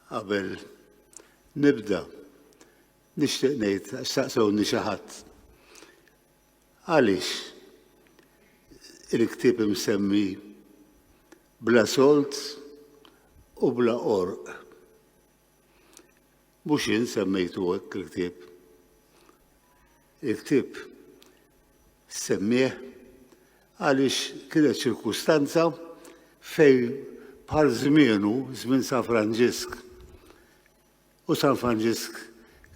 qabel nibda nixtieq ngħid staqsewni xi ħadd. Għaliex il-ktieb imsemmi bla solt u bla qorq. Mhux jien semmejtu hekk il-ktieb. Il-ktieb semmieħ għaliex kienet ċirkustanza fej bħal żmienu, żmien San Franġisk. U San Franġisk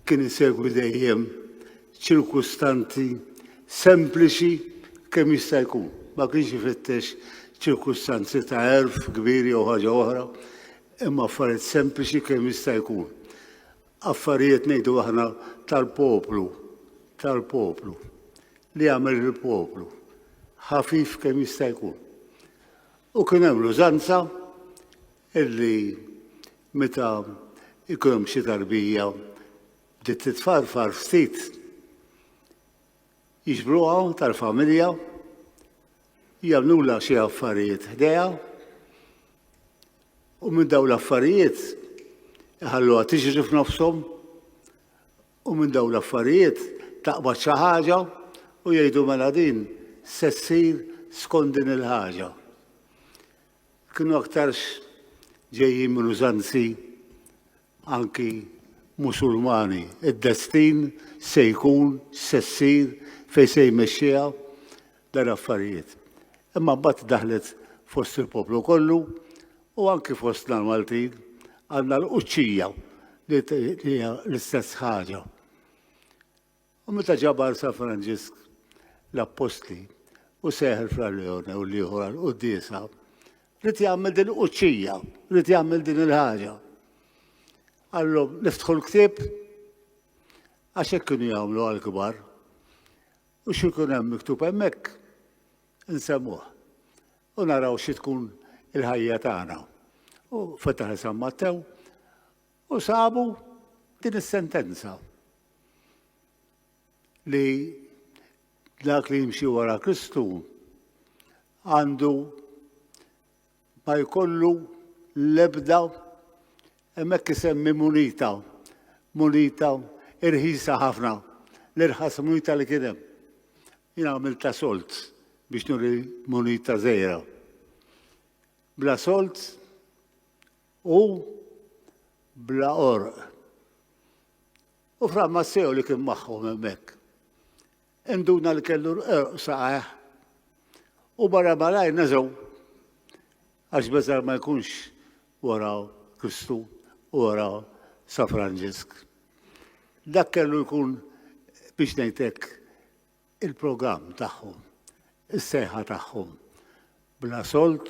kien isegwi dejjem ċirkustanti sempliċi kemm jista' jkun. Ma kienx ifittex ċirkustanzi ta' erf kbir jew ħaġa oħra, Imma affarijiet sempliċi kemm jista' jkun. Affarijiet ngħidu aħna tal-poplu, tal-poplu, li jagħmel il-poplu, ħafif kemm jista' jkun. U kien hemm l-użanza illi meta ikun hemm xi tarbija bdiet titfarfar ftit Jiġbruha tal-familja, jagħmlulha xi affarijiet ħdejha u minn dawn l-affarijiet iħalluha tiġri f'nofshom u minn dawn l-affarijiet taqbad xi ħaġa u jgħidu mela din se ssir skont din il-ħaġa. Kienu aktarx ġejjin minn użanzi anki Musulmani, id-destin se jkun, se ssir, fejn se jmexxiha dan l-affarijiet. Imma mbagħad daħlet fost il-poplu kollu u anki fostna l-Maltin għandna l-quċċija li hija l-istess ħaġa. U meta ġabar San Franġisk l-appostli u seħħ il-fralleone u l-ieħor għall-quddiesa, rrid jagħmel din il-quċċija, rrid jagħmel din il-ħaġa. Qallhom niftħu l-ktieb għax hekk kienu jagħmlu għall-kbar. U xi jkun hemm miktub hemmhekk insemmuh u naraw xi tkun il-ħajja tagħna. U fetaħ San Mattew U sabu din is-sentenza li dak li jimxi wara Kristu għandu ma jkollu l-ebda hemmhekk isemmi munita, munita irħisa ħafna, l-irħas munita li kien hemm. Jien għamilta solt biex nuri munita żejra. Bla solt u bla qorq. U Fra Masseo li kien magħhom hemmhekk, induna li kellu l-qorq saqajh u barra malaj neżgħu għax beżar ma jkunx wara Kristu u wara Sa Franġisk. Dak kellu jkun biex ngħidlek il-programm tagħhom, is-sejħa tagħhom. Bla solt,